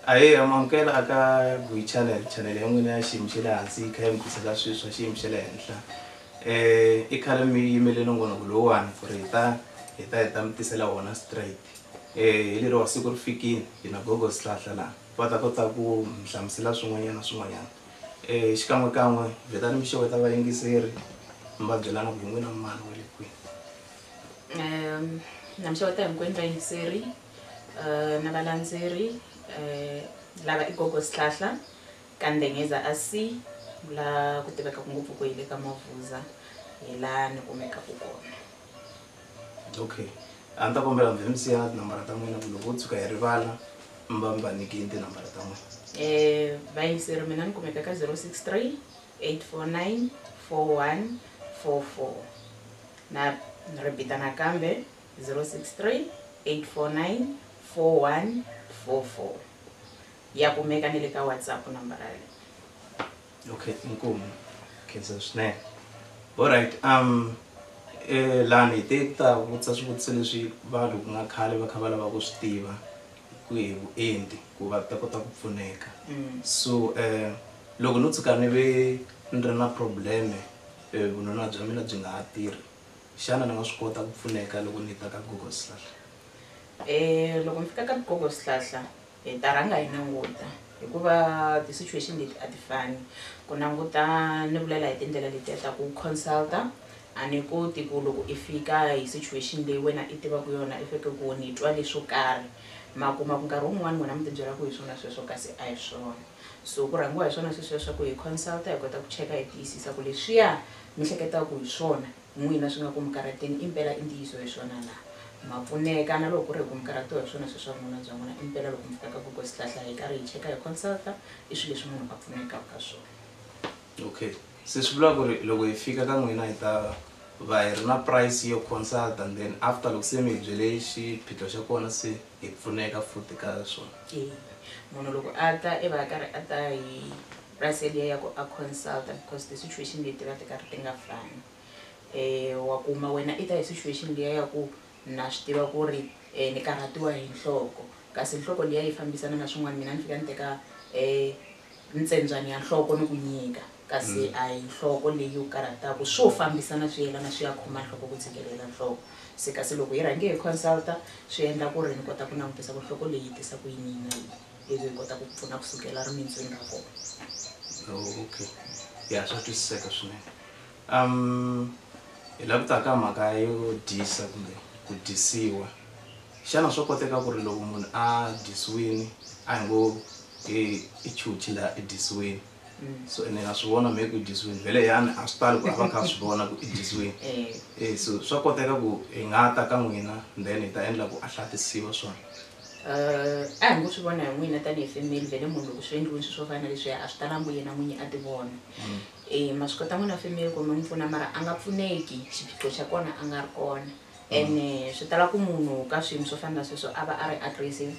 aye amamukela aka gui channel channel ya n'wina ya xiyimo xa le hansi yi kha yi mi tisela swilo swa xiyimo xa le henhla um i khale mi yimele nongonoko lowuwani for hi ta hi ta hi ta mi tisela wona straight hi lero wa siku ri fikile hi na gogo swihlahla laha va ta kota ku mi hlamusela swin'wanyana swin'wanyana um xikan'wekan'we vhetani mi xeweta vayingiseri mi va byela na ku hi n'wina mani wa le kwihi um na mi xeweta hinkwenu vayingiseri um na valandzeri um lava i gogo swihlahla ka ndengeza a si la ku tivekaka ngopfu ku hi le ka mavuza hi laha ni kumekaka kona okay a ni ta kombela mi mi siya tinambara ta n'wina ku loko wo tshuka hi rivala mi va mi va nyikini tinambara ta n'wina Eh, vayingiseri mina ni kumeka ka 063 849 4144 na ni ripita nakambe 063 849 4144 ya kumeka ni le ka whatsapp nambara leyi okay inkomu khensa swinene alright um eh, lani hi te ku ta vutisa swivutiso leswi vanhu ku nga khale va kha va lava ku swi tiva ku hi vuenti ku va ta kota ku pfuneka Mm. so um loko no tshuka ni ve ni ri na probleme eh, vununa bya mina byi nga ha tirhi xana ni nga swi kota ku pfuneka loko ni ta ka google slash Eh, loko mi fika ka gogo swihlahla Hi ta rhanga hi languta hikuva ti situation leti a ti fani ku languta ni vulela hi tindlela letiya ta ku consulta a ni koti ku loko i fika hi situation leyi wena i tivaka yona i feke ku ni twa leswo karhi ma kuma ku nkarhi wun'wani n'wina mi tibyela ku hi swona sweswo kasi a hi swona so ku rhangiwa hi swona sweswiya swa ku hi consulta hi kota ku cheka hi tiyisisa ku leswiya mi hleketaka hi swona n'wina swi nga ku mi karhateni, impela i ntiyiso hi swona na? Ma pfuneka na loko ku ri hi ku mi karhatiwa hi swona swilo swa vununa bya n'wina? Impela loko mi fika ka Gogo Swihlahla hi karhi hi cheka hi consulta, i swilo leswi munhu a pfunekaka ha swona. Okay. Se swi vula ku ri loko hi fika ka n'wina hi ta va hi ri na price yo consulta then after loko se mi hi byele xiphiqo xa kona se hi pfuneka futhi ka swona? Eya. Munhu loko a ta i va a karhi a ta hi Russell ya ya ku a consulta because ti situation leti va ti karhi ti nga fani um wa kuma wena i ta hi situation liya ya ku na swi tiva ku ri um ni karhatiwa hi nhloko kasi nhloko liya yi fambisana na swin'wana mina ni fika ni teka um ntsembyani ya nhloko ni ku nyika kasi a hi nhloko leyi u karhataku swo fambisana swi yelana swi ya khoma nhloko ku tshikelela nhloko se kasi loko hi rhange hi consulta swi endla ku ri ni kota ku langutisa ku nhloko leyi yi tisa ku yini hi na yini. ivi hi kota ku ku pfuna kusukela rimindzwini ra kona oh, okay ya swa twisiseka swinene um hi la ku ta ka mhaka yo dyisa kumbe ku dyisiwa xana swo koteka ku ri loko munhu a dyisiwini a hi ngo i chuchi laha i dyisiwini mm. so ene a swi vona maybe u dyisiwini vhele yani a swi tali ku a va kha a swi vona ku i dyisiwini eh. Eh, so swa koteka ku hi nga ta ka n'wina then hi ta endla ku a hlatisiwa swona A hi ngo swi vona hi n'wina tanihi femeli vhele munhu loko swi endliweni swi swo fana na leswiya a swi talanga ku yena n'winyi a ti vona um mm. ma swi kota n'wina femeli ku mi n'wi pfuna mara a nga pfuneki xiphiqo xa kona a nga ri kona and mm. eh, swi tala ku munhu ka swiyimo swo fana na sweswo a va a ri aggressive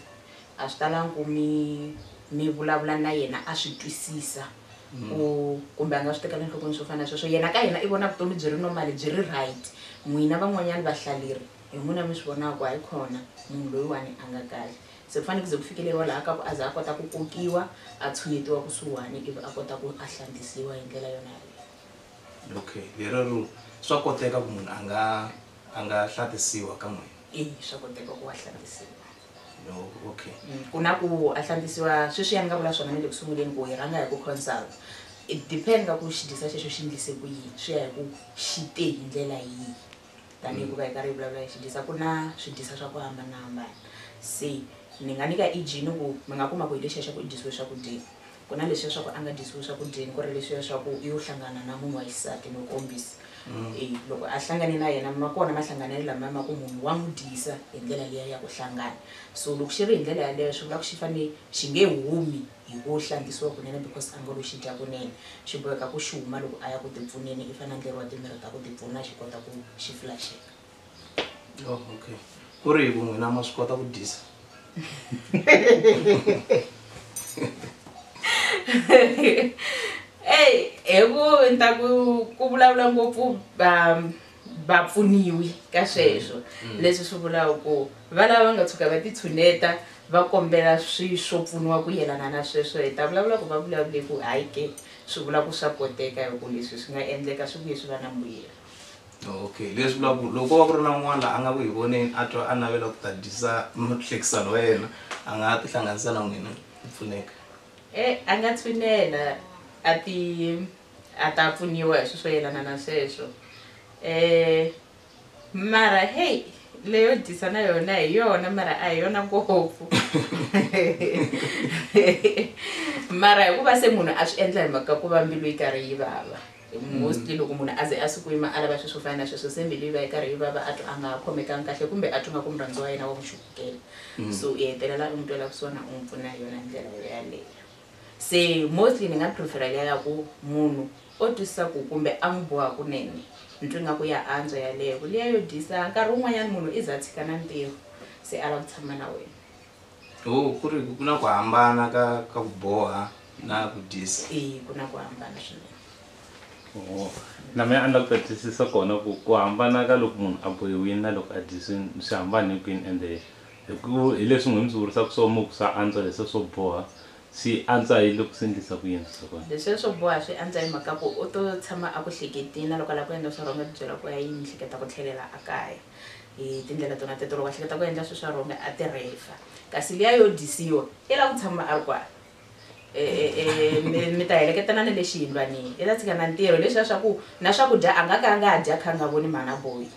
a swi talanga ku mi mi vulavula na yena a swi twisisa mm. ku kumbe a nga swi tekela enhlokweni swo fana na sweswo yena ka yena i vona vutomi byi ri normal byi ri right n'wina van'wanyana vahlaleri hi n'wina mi swi vonaka ku hayi khona munhu loyiwani a nga kahle se ku fanele ku ze ku fikeleriwa laha ka ku a za a kota ku kokiwa a tshunetiwa kusuhani ivi a kota ku a hlantisiwa hi ndlela yona yaleyo okay lerero swa koteka ku munhu a nga a nga hlantisiwa ka n'wina e swa koteka ku wa hlantisiwa no okay mm, ku na ku a hlantisiwa sweswi ya ni nga vula swona ni le ku sunguleni ku hi rhanga hi ku consult it depend ka ku xi dyisa xexo xi ndlise ku yini swi ya hi ku xi te hi ndlela yihi tanihi hikuva hi karhi hi vulavula hi xidyisa ku na swidyisa swa ku hambanahambana se ni nga nyika eg ni ku mi nga kuma ku hi lexiya xa ku i dyisiwe swakudyeni ku na leswiya swa ku a nga dyisiwe swakudyeni ku ri leswiya swa ku yo hlangana na munhu wa xisati no kombisa e loko a hlangane na yena ma kona mahlanganelo lamaya ma ku munhu wa n'wi dyisa hi ndlela liya ya ku hlangana so loko xi ri hi ndlela yaleyo swi vula ku xi fanele xi nge humi hi ngo u hlangisiwa kunene because a ngo lo xi dya kunene xi boheka ku xi huma loko a ya ku tipfuneni i fanele a endleriwa timirhi ta ku tipfuna xi kota ku xi flaxeka oh, okay ku ri hi ku n'wina ma swi kota ku dyisa eyi hi ku ni ta ku ku vulavula ngopfu um va pfuniwi ka sweswo mm. leswi swi vulaka ku va lava va nga tshuka va titshuneta va kombela swi swo pfuniwa ku yelana na sweswo hi ta vulavula ku va vulavule ku hayi ke swi vula ku swa koteka hi ku leswi swi nga endleka swi vuye swi va na mbuyelo okay leswi vula ku loko va ku ri na un'wana la a nga ku hi voneni a twa a navela ku ta dyisa muhlekisano wa yena a nga ha tihlanganisa na n'wina ku pfuneka e a nga tshunela a ti a ta pfuniwa hi swi swo yelana na sweswo um mara heyi leyo dyisa na yona hi yona mara a hi yona ngopfu mara hikuva se munhu a swi endla hi mhaka ku va mbilu yi karhi yi vava mostly loko munhu a ze a swi kuyima a lava swi swo fana na sweswo se mbilu yi va yi karhi yi vava a twa a nga ha khomekangi kahle kumbe a twi nga ku murhandziwa wa yena wa ku xukukela mm. so i hetelela u n'wi twela kusuhana u n'wi pfuna hi yona ndlela yo yaleyo se mostly ni nga prefer-a liya ya ku munhu o twisisa ku kumbe a n'wi boha kunene ni twa ingaku ya antswa yaleyo ku liya yo dyisa nkarhi wun'wanyana munhu i za a tshika na ntirho se a lava ku tshama na wena ho ku ri ku na ku hambana ka ka ku boha na ku dyisa e ku na ku hambana swinene ho na mina a ni la ku ta twisisa kona ku ku hambana ka loko munhu a bohiwile na loko a dyisiwile swi hambane kwini ende Hi ku hi leswi n'wina mi swi vurisaka swo mo ku sa antswa leswiya swo boha swi antswa hi loko swi endlisa ku yini swihlokwana. Leswiya swo boha swi antswa hi mhaka ku u to tshama a ku hleketini na loko a lava ku endla swa wrong a tibyela ku ya yi ni hleketa ku tlhelela a kaya hi tindlela tona teto loko a hleketa ku endla swilo swa wrong a ti rhefa kasi liya yo dyisiwa i lava ku tshama a ri kwala. mi ta heleketana ni le xiyindlwanini i ta tshika na ntirho leswiya swa ku na swakudya a nga ka a nga ha dya kha a nga voni mhana boyi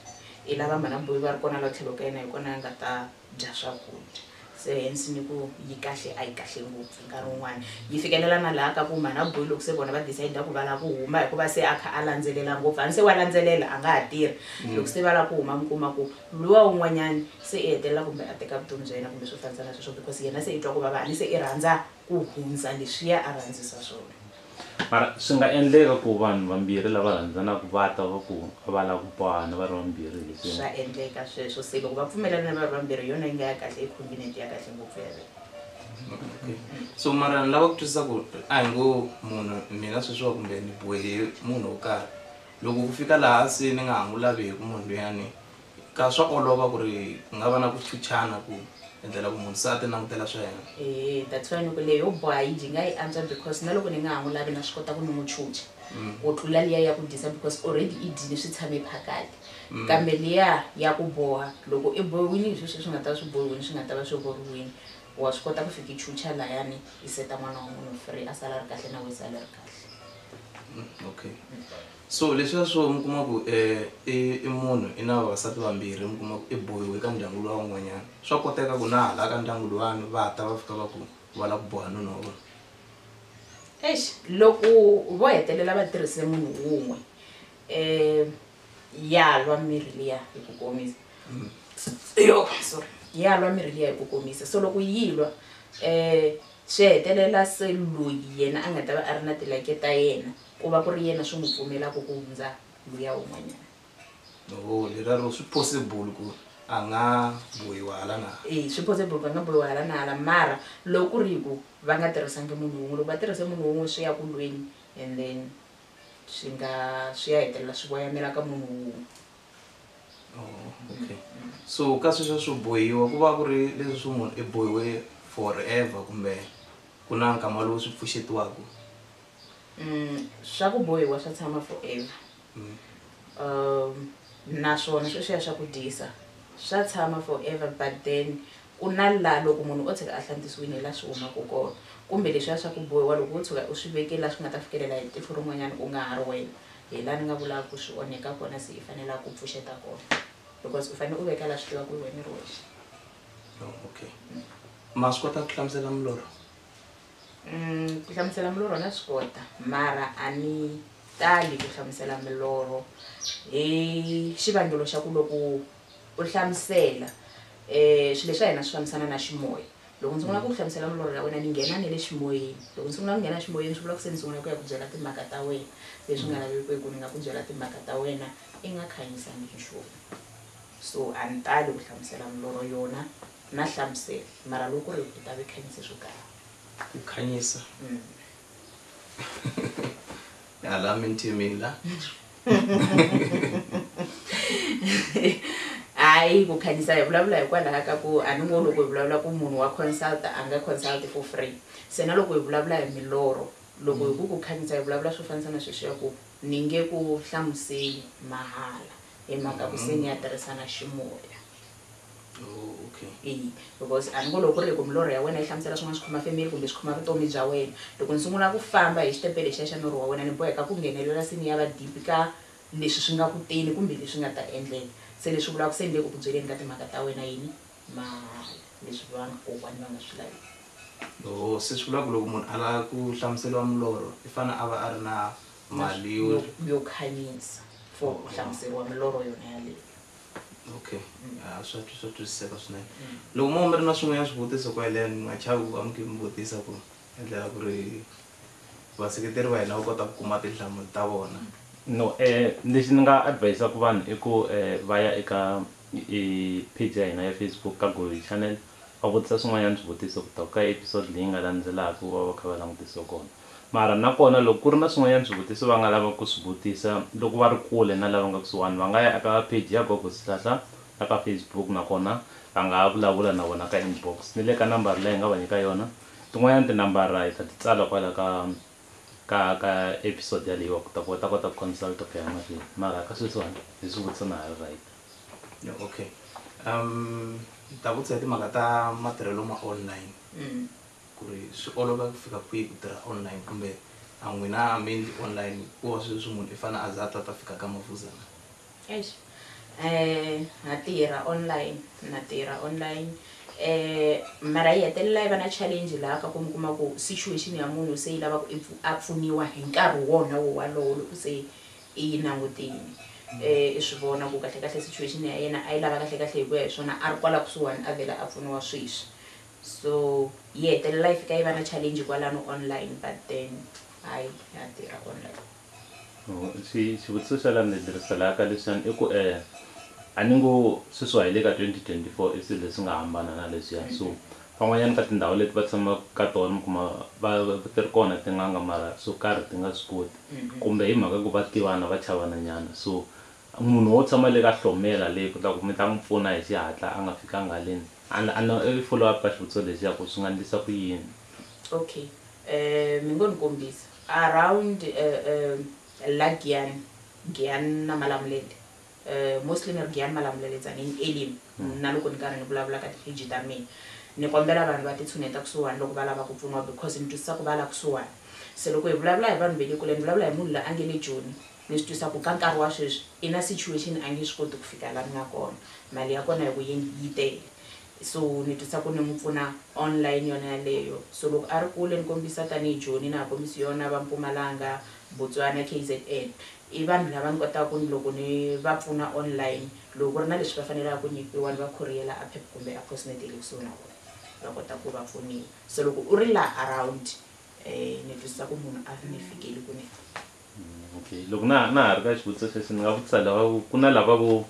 i lava mhana boyi va ri kona la tlhelo ka yena hi kona a nga ta dya swakudya se hence ni ku yi kahle a yi kahle ngopfu nkarhi wun'wana yi fikelela na laha ka ku mhana boyi loko se vona va decide ku va lava ku huma hikuva se a kha a landzelela ngopfu a ni se wa landzelela a nga ha tirhi mm. loko se va lava ku huma mi kuma ku Luwa un'wanyani se i hetelela kumbe a teka vutomi bya yena kumbe swo fanisana sweswo because yena se i twa ku vava ani se i rhandza ku hundza leswiya a rhandzisa swona. Mara swi nga endleka ku vanhu vambirhi lava rhandzanaka va twa va ku a va lavi ku bohana va ri vambirhi hi leswi. Swa endleka sweswo se loko va pfumelelana va ri vambirhi hi yona yi nga ya kahle i convenient ya kahle ngopfu yaleyo. Okay so mara ni lava ku twisisa ku ri a hi ngo munhu mina sweswiwa kumbe ni bohe munhu wo karhi Loko ku fika laha se ni nga ha n'wi laveku munhu luyani, ka swa olova ku ri ku nga va na ku chuchana ku endlela ku munhu se a ti langutela swa yena. Ehe, that's why ni ku leyi yo boha yi jinga yi antswa because na loko ni nga ha n'wi lavi na swi kota ku ni n'wi chucha ku tlula liya ya ku dyisa because already i dyile swi tshame phakati. Kambe liya ya ku boha loko i bohiwile hi sweswo swi nga ta va swi bohiwile swi nga ta va swi rhurhiwile, wa swi kota ku fika i chucha layani i seta n'wana wa munhu free a sala a ri kahle na wena u sala u ri kahle. Mm, okay so leswiya swo mi kuma ku eh, i i munhu i na vavasati vambirhi mi kuma ku i bohiwe ka ndyangu luwa wun'wanyana swa koteka ku na hala ka ndyangu luwani va ta va fika va ku va lava ku boha nuna wa vona eish loko vo hetelela va tirhise munhu wun'we um ya lwa mirhi liya hi ku komisa yo sorry ya lwa mirhi liya hi ku komisa so loko yi lwa um Swi hetelela se loyi yena a nga ta va a ri na tilake ta yena ku va ku ri yena swi n'wi pfumelaka ku hundza luya un'wanyana. Oho, lerero swi possible ku a nga bohiwa hala na hala. Eya, swi possible ku a nga bohiwa hala na hala mara loko ku ri ku va nga tirhisangi munhu wun'we, loko va tirhise munhu wun'we swi ya ku lweni and then swi nga swi ya hetelela swi voyamela ka munhu wun'we. okay so ka sweswo swo bohiwa ku va ku ri leswi swi munhu i bohiwe forever kumbe ku na nkama lowu swi pfuxetiwaka mm, swa ku bohiwa swa tshama forever mm. um naswona sweswiya swa ku dyisa swa tshama forever but then ku na la loko munhu o tshika a hlantisiwini la swi humaka kona kumbe leswiya swa ku bohiwa loko wo tshuka u swi vekeli la swi nga ta fikelela hi tihlo rin'wanyana u nga ha ri wena hi laha ni nga vulaka ku swi onheka kona se i fanele a ku pfuxeta kona because u fanele u veka laha swi tiva ku wena ri wexe oh, okay ma swi kota ku hlamusela mulorho mm, ku hlamusela mulorho na swi kota mara a ni tali ku hlamusela milorho hi xivangelo xa ku loko u hlamusela um swilo leswi a hina swi fambisana na ximoya Loko ndzi sungula ku ku hlamusela milorho ya wena ni nghena ni le ximoyeni. Loko ndzi sungula ku nghena ximoyeni swi vula ku se ni sungula ku ya ku byela timhaka ta wena leswi nga lavekeki ni nga ku byela timhaka ta wena i nga khanyisangi nchumu. So a ni tali ku hlamusela milorho yona na hlamusela mara loko ku ri u ta ve khanyise swo tala. Ku khanyisa. Hala mintimini la. Hayi ku khanyisa hi vulavula hikwalaho ka ku a ni ngo loko hi vulavula ku munhu wa consult a nga consult for free se na loko hi vulavula hi milorho loko hi ku ku khanyisa hi vulavula swo fanisa na sweswi ya ku ni nge ku hlamuseli mahala hi mhaka ku se ni ya tirhisana ximoya oh, okay. eyi because a ni ngo loko ku ri ku milorho ya wena yi hlamusela swin'wana swi khoma family kumbe swi khoma vutomi bya wena loko ni sungula ku famba hi xitepe lexiya xa norho wa wena ni boheka ku nghenelela sini ya va deep ka leswi swi nga ku teni kumbe leswi nga ta endleka se leswi vulaka se ni le ku ku byeleni ka timhaka ta wena yini mahala leswi vanga kokwani va nga swi laviki o se swi vulaka loko munhu a lava ku hlamuseriwa milorho i fanele a va a ri na mali yo khanyisa for ku hlamuseriwa milorho yona yaleyo okay ah, swa twi- swa twisiseka swinene loko mo mi ri na swin'wanyana swivutiso ku yelena mi nga chavi ku va mi khe mi vutisa ku endlela ku ri vaseketeri va hina va kota ku kuma tinhlamulo ta vona no eh lexi ni nga advisaka vanhu i ku eh va ya eka eh, page ya hina ya facebook ka goyi channel va vutisa swin'wanyana swivutiso ku ta ka episode leyi nga landzelaka va va kha va langutisiwe kona mara na kona loko ku ri na swin'wanyana swivutiso va nga lava ku swi vutisa loko va ri kule na lava nga kusuhani va nga ya aka page ya gogo sihlahla la ka facebook nakona va nga ha vulavula na vona ka inbox ni le ka nambara leyi hi nga va nyika yona tin'wanyana tinambara hi ta ti tsala kwala ka ka ka episode yaleyiwa ku ta ku va ta kota ku consulta ku ya mahlweni mara ka sweswiwani hi swi vutisa na ha ri right Yeah, okay um ni ta vutisa hi timhaka ta matirhelo ma online Mm. ku ri swi olova ku fika kwihi ku tirha online kumbe a n'wina mainly online ku wa sweswi munhu i fanele a za a ta ta fika ka mavuzana Eish. Eh, na tirha online na tirha online eh mara yi hetelela yi va na challenge laha ka ku mi kuma ku situation ya munhu se yi lava ku i pfu- a pfuniwa hi nkarhi wona wo walowo loko se i yi langutini um i swi vona ku kahlekahle situation ya yena a yi lava kahlekahle hi ku ya hi swona a ri kwala kusuhani a vhela a pfuniwa sweswi so yi hetelela yi fika yi va na challenge kwalano online but then hayi ya tirha online oh, xivutiso xa la ni leriselaka leswiyani i ku um a ni ngo sweswiwa hi le ka 2024 i swilo leswi nga hambana na leswiya so Van'wanyana ka tindhawu leti va tshamaka ka tona mi kuma va ti ri kona tin'anga mara swo karhi ti nga swi koti kumbe hi mhaka ku va tivana va chavana nyana so munhu wo tshama le ka hlomela le ku ta ku mi ta n'wi pfuna hi xihatla a nga fikanga haleni a no i follow up ka xivutiso lexiya ku swi nga ndlisa ku yini. Okay um mi ngo ni kombisa around um la Giyan Giyan na Malamulele. eh, mostly ni ri giyani ma lamuleletsa ni elimu mm. na loko ni karhi ni vulavula ka ti-page ta mina ni kombela vanhu va titshuneta kusuhani loko va lava ku pfuniwa because ni twisisa ku va la kusuhani se loko hi vulavula hi vanhu ve le kule ni vulavula hi munhu la a nge le joni ni swi twisa ku ka nkarhi wa sweswi i na situation a nge swi koti ku fika la ni nga kona mali ya kona hi ku yini yi tele so ni twisa ku ni n'wi pfuna online yona yaleyo so loko a ri kule ni kombisa tanihi joni na ha kombisi yona va mpumalanga botswana k z n I vanhu lava ni kotaka ku ni loko ni va pfuna online, loko ku ri na leswi va fanelaka ku nyikiwa ni va khuriyela a Pep kumbe a Post Net ya le kusuhi na vona va kota ku va pfuniwa. So loko u ri laha around ni twisisa ku munhu a nge fikeli ku ni. Okay loko na na ha ri ka xivutiso xexo ni nga vutisa lava vo ku na lava vo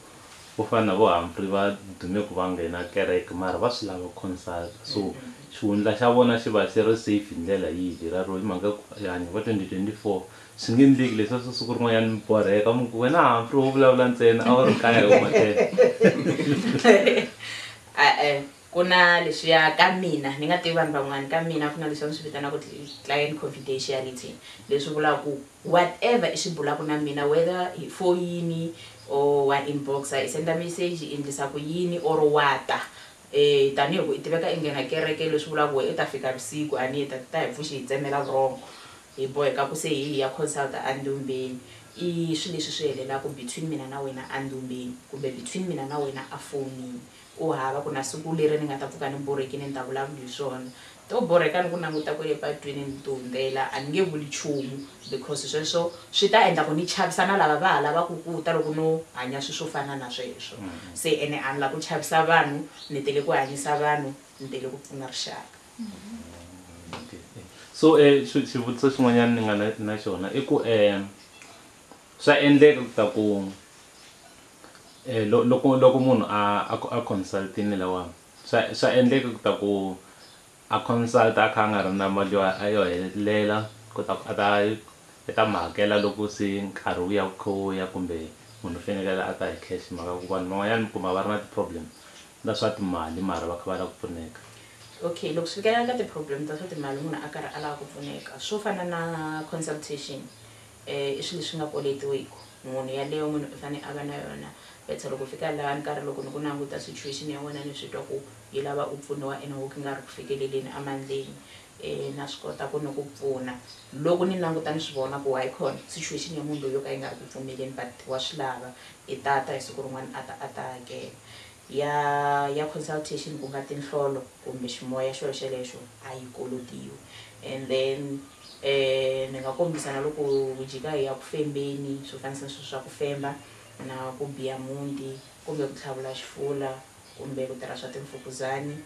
vo fana na vo Humphrey va dume ku va nghena kereke mara va swi lava ku consult-a so xihundla xa vona xi va xi ri safe hi ndlela yihi leriya ro hi mhaka ya ku hanya va twenty twenty four Swi nge endleki leswa swi siku rin'wanyana mi borheka mi ku wena Humphrey wo vulavula ntsena a wu ri kaya hi huma ten e-e ku na leswiya ka mina ni nga tivi vanhu van'wana ka mina ku na leswiya ni swi vitanaka ku client confidentiality leswi vulaka ku whatever i swi bulaka na mina whether hi foyini or wa inboxa i senda message i endlisa ku yini or wa ta um tanihi ku i tiveka i nghena kereke leswi vulaka ku wena i ta fika vusiku a ni ta ta hi pfuxi hi tsemela vurhongo Hi boheka ku se hi hi ya consulta andumbeni. I swi leswi swi helelaku between mina na wena andumbeni kumbe between mina na wena a fowunini. Ku hava ku na siku leri ni nga ta pfuka ni borhekini ni ta vulavula hi swona. To borheka ni ku languta kwele patwini ni ti hundzela a ni nge vuli chumu because sweswo swi ta endla ku ni chavisa na lava va ha lavaku ku ta loko no hanya swi swo fana na sweswo. Se ene a ni la ku chavisa vanhu ni tele ku hanyisa vanhu ni tele ku pfuna rixaka. so um xivutiso xin'wanyana ni nga na na xona i ku um swa endleka ku ta ku um loko loko munhu a a a consult-ini lawani swa swa endleka ku ta ku a consult a kha a nga ri na mali yo a yo helela ku ta ku a ta i ta mi hakela loko se nkarhi wu ya wu kha wu ya kumbe munhu u fanekele a ta hi cash hi mhaka ku vanhu van'wanyana mi kuma va ri na ti-problem ta swa timali mara va kha va lava ku pfuneka. Okay loko swi fikelela ka ti problem ta swa timali munhu a karhi a lava ku pfuneka swo fana na consultation i swilo leswi nga koletiweku munhu yaleyo munhu i fane a va na yona better loko fika laha ni karhi loko ni ku languta situation ya wena ni swi twa ku yi lava u pfuniwa ene wo ku nga ri ku fikeleleni a mandleni E, na swi kota ku ni ku pfuna. Loko ni languta ni swi vona ku Wycon, situation ya munhu loyi yo ka yi nga ri ku pfumeleni but wa swi lava. I ta ta hi siku rin'wana a ta a ta hakela. Ya, ya consultation ku nga tinhlolo kumbe ximoya xo xelexo a yi kolotiwi. And then, e, ni nga kombisa na loko hi jika hi ya ku fembeni, swo fanisa ni swilo swa ku femba, na ku biya muti, kumbe ku tlhavula xifula, kumbe ku tirha swa timfukuzani,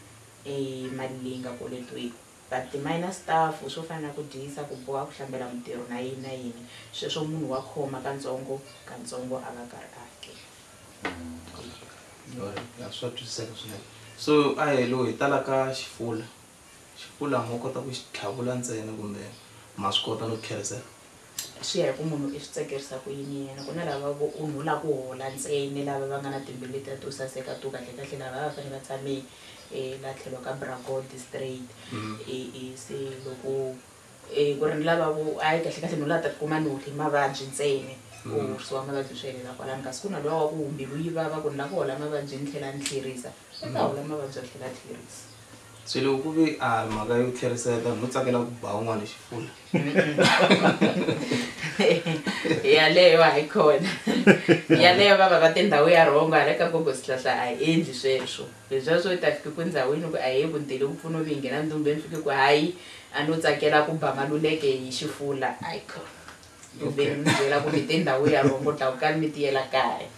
I mali leyi nga koletiwiki. But ti-minor stuff swo fana na ku dyisa, ku boha, ku hlambela mutirhi na yini na yini, sweswo munhu wa khoma katsongo katsongo a va karhi a hakela. Alright, swa twisiseka swinene. So a hi lo hi tala ka xifula. Xifula mo kota ku xi tlhavula ntsena kumbe ma swi kota no xi kherisela? Swi ya hi ku munhu i swi tsakerisa ku yini yena. Ku na lava vo u no lava ku hola ntsena, lava va nga na timbilu letiya to saseka to kahlekahle lavaya a va fanele va tshame laha tlhelo ka bra gold straight. E e se loko ku ri ni lava vo a yi kahlekahle no lava ta tikuma ni hohle mavabyi ntsena or swo mavabyi swi helela kwalano kasi ku na luwa wa ku mbilu yi vava ku ni lava ku hola mavabyi ni tlhela ni tlherisa. swi ta hola mavabyi a tlhela a tlherisa se loko ku ve a mhaka yo tlherisela tani no tsakela ku ba un'wana xifula yaleyo a yi khona yaleyo va va va tindhawu ya rhongo hala ka gogo sihlahla a hi endli sweswo leswiya swo ta fike ku ndhawini ku a hi ku ndele ku pfuna vi nghena ndumbeni fike ku hayi a no tsakela ku ba maluleke hi xifula a yi khona ndumbe ni mi byela ku mi tindhawu ya rhongo dlawukani mi tiyela kaya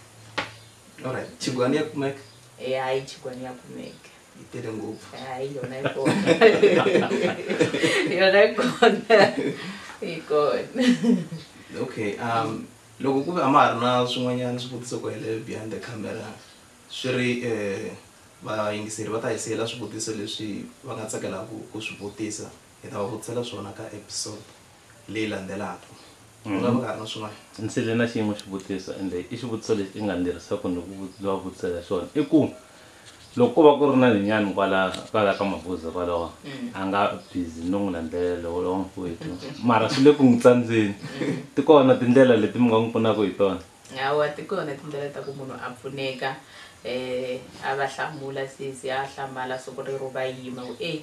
Alright, chigwani ya kumek Eh, hayi chigwani ya kumeka itele ngopfu. hayi yona ikona yona ikona ikona Okay, um loko ku ve a ma ha ri na swin'wanyana swivutiso ku helele behind the camera swi ri eh vayingiseri va ta hi siyela swivutiso leswi va nga tsakelaka ku swi vutisa hi ta va vutisela swona ka episode leyi landzelaka u nga va ka ha ri na swin'wana ndzi le na xin'we xivutiso ende i xivutiso lexi i nga ni lerisaka ni ku vut- va vutisela xona i ku loko ko va ku ri na linyani kwala kwala ka mabuza kwalawa a nga busy no n'wi landzelela lowo lowo n'wikwetu mara swi le ku n'wi tsandzeni ti kona tindlela leti mi nga n'wi pfunaka hi tona hawa ti kona tindlela ta ku munhu a pfuneka um a va hlamula sesi a hlamala siku rero va yima ku e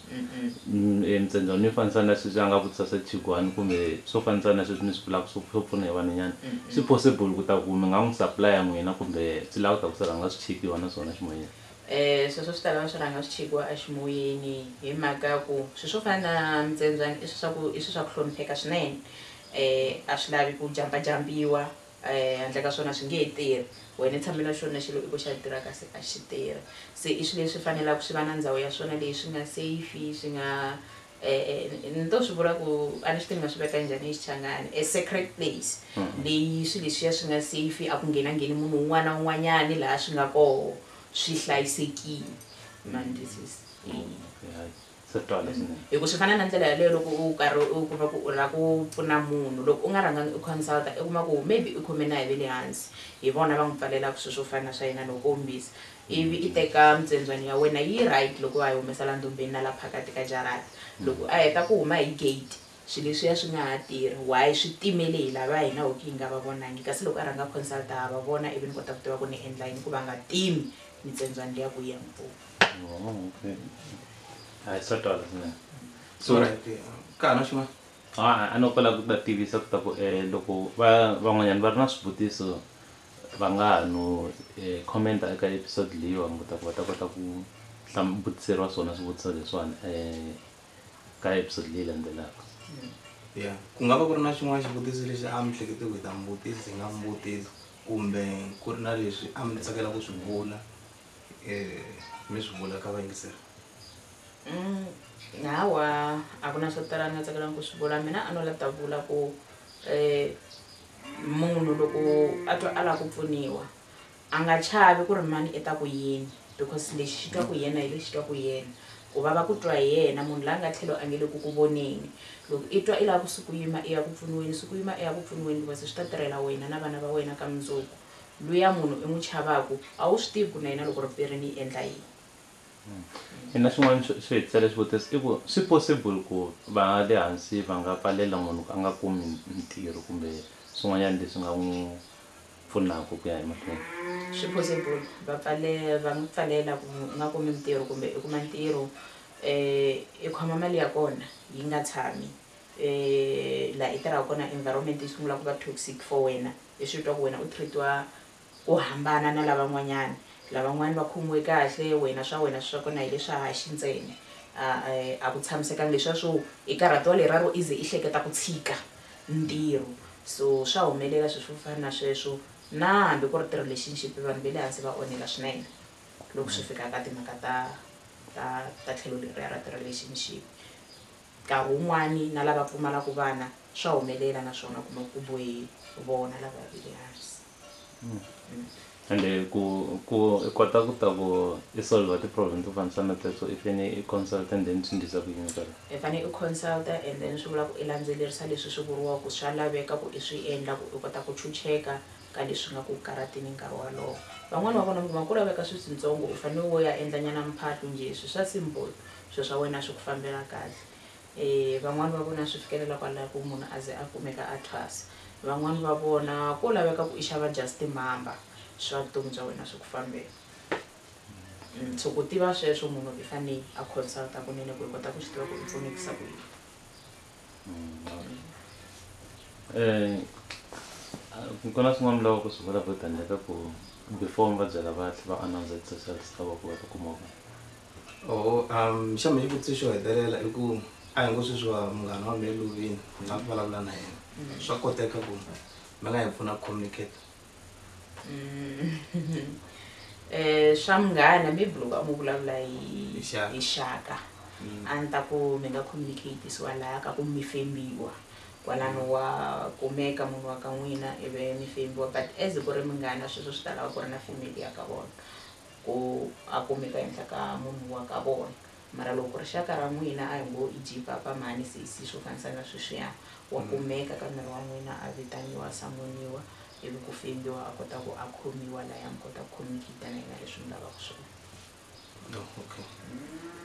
Emintshendzano yo fanisa na sweswi a nga vutisa swa chigwani kumbe swo fanisa na sweswi mi swi vulaka swo swo pfuna hi vanhwanyana swi possible ku ta ku mi nga n'wi supply-a n'wina kumbe swi lava ku ta ku swi rhanga swi chekiwa na swona ximoyeni? Sweswo swi ta lava swi rhanga swi chekiwa a ximoyeni hi mhaka ya ku swi swo fana na mintsendzwana i swi swa ku i swi swa ku hlonipheka swinene a swi lavi ku jampa jampiwa Eh, handle ka swona swi nge he tirhi wena tshamela xona xilo i ku xa tirha kasi a xi tirhi se i swilo leswi fanelaka swi va na ndhawu ya swona leyi swi nga safe swi nga um ni to swi vula ku a ni swi tivi ni nga swi veka njhani hi xichangani a secret place hmm. leyi swilo leswiya swi nga safe a ku nghena ngheni munhu un'wana na un'wanyani laha swi nga koho swi hlayisekile mandisisi swi twa leswinene hi ku swi fana na ndlela yaleyo loko u karhi u kuma ku u lava ku pfuna munhu loko u nga rhangangi u consulta i kuma ku maybe u khome na hi ve le hansi hi vona va n'wi pfalelaka swilo swo fana na swa yena loko kombisa ivi i teka mitswendzwani ya wena yi right loko wa yi humesa la ndombeni na la phakati ka jarata loko a heta ku huma hi gate swilo leswiya swi nga ha tirhi why swi timele hi lava hina hoki hi nga va vonangi kasi loko a rhanga consulta ha va vona ivi ni kota ku tiva ku ni endla yini ku va nga timi mitswendzwani liya ku yi ya n'wi pfuna hayi swa twala swinene so ka ha na xin'wana a no kola ku ta tivisa ku ta ku um loko va van'wanyana va ri na swivutiso va nga ha no um comment-a eka episode leyiwani ku ta ku va ta kota ku vutiseriwa swona swivutiso leswiwani um ka episode leyi landzelaka ya ku nga va ku ri na xin'wana xivutiso lexi a mi hlekete ku hi ta mi vutisa hi nga mi vutisa kumbe ku ri na leswi a mi tsakela ku swi vula Eh, mi swi vula ka vayingiseri Mm, hawa a ku na swo tala ni nga tsakelanga ku swi vula mina a no la ta vula ku um munhu loko a twa a lava ku pfuniwa a nga chavi ku ri mani i ta ku yini because lexi xi twa ku hi yena hi lexi twa ku hi yena ku vava ku twa hi yena munhu la nga tlhelo a nge le ku ku voneni loko i twa i lava ku suku yima i ya ku pfuniweni suku yima i ya ku pfuniweni because swi ta tirhela wena na vana va wena ka mundzuku luya munhu i n'wi chavaku a wu swi tivi ku na yena loko ri pere ni endla yini. Ina swin'wana swi swi hi tisela xivutiso i ku swi possible ku va le hansi va nga pfalela munhu ku a nga kumi ntirho kumbe swin'wanyana leswi nga n'wi pfunaka ku ya emahlweni? Swi possible va pfale va n'wi pfalela ku u nga kumi ntirho kumbe i kuma ntirho i khoma mali ya kona yi nga tshami Eh laha i tirhaka kona environment yi sungula ku va toxic for wena i swi twa ku wena u treatiwa ku hambana na lavan'wanyana lavan'wana va khomiwe kahle wena swa wena swa kona hi le swa haxi ntsena a a ku tshamisekanga leswiya swo i karhatiwa leraro i ze i hleketa ku tshika ntirho so swa humelela swilo swo fana na sweswo na hambi ku ri ti-relationship vanhu va le hansi va onhela swinene loko swi fika ka timhaka ta ta ta tlhelo leriya ra ti-relationship. Nkarhi wun'wana na lava pfumalaka vana swa humelela naswona u kuma ku ku bohe vona lava va veke ehansi. Ende ku ku i kota ku ta ku i solve ti problem to fanisa na teto i fane i consult and then swi ndlisa ku yini sweswo. I fane i consult and then swi vula ku i landzelerisa leswi swi vuriwaka ku swa laveka ku i swi endla ku i kota ku chucheka ka leswi nga ku karatini nkarhi walowo. Van'wana va vona mi kuma ku laveka swilo switsongo u fane wo ya endla nyana mphahlu njhe swi swa simple swilo swa wena swi ku fambela kahle van'wani va vona swi fikelela kwalaho ku munhu a ze a kumeka a thwasa van'wani va vona ko laveka ku i xava just timhamba swa vutomi bya wena swi ku fambela mm, so ku tiva sweswo munhu i fanele a consulta kunene ku i kota ku swi tiva ku i pfunekisa ku yini um ku na swin'wana mi lava ku swi vula vo tandleka ku before mi va byela va tlhe va announce exercise ta va ku va ta kuma vona oho um xa mina xivutiso xo hetelela i ku a hi ngo sweswiwa munghana wa mina lovini ni nga vulavula na yena mm. swa koteka ku mi nga hi pfuna ku communicate um swa munghana mi blok a mu vulavula hi xaka mm. a ni ta ku mi nga communicatisiwa laha ka ku mi fembiwa kwalano wa kumeka munhu wa ka n'wina ivi mi fembiwa but as ku ri munghana sweswo swi ta lava ku ri na family ya ka vona ku a kumeka ehenhla ka munhu wa ka vona. Mara loko rixaka ra n'wina, a hi ngo i Jipapa mhani, se i si swo fanisa na sweswiya, wa kumeka ka miri wa n'wina, a vitaniwa, a samoniwa, ivi ku fembiwa, a kota ku a khomiwa laya mi kota ku communicate na yena leswi mi lavaka swona. Oh, okay.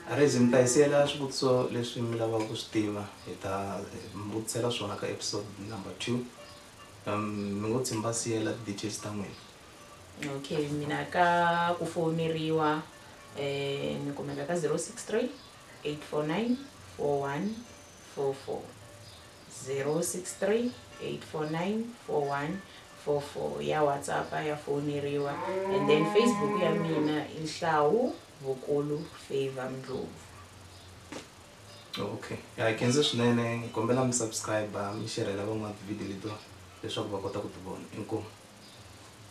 A ri ze mi ta hi siyela swivutiso leswi mi lavaka ku swi tiva, hi ta mi vutisela swona ka episode number two. Mi ngo tshemba siyela ti-details ta n'wina. okay mina ka ku fowuneriwa um ni kumeka ka zero six three eight four nine four one four four zero six three eight four nine four one four four ya whatsapp ya fowuneriwa and then facebook ya mina i nhlawu vukulu favor mndlovu okay ya hi khenze swinene hi kombela mi subscribe mi xerhela van'wana tivhidiyo letiwa leswaku va kota ku ti vona inkomu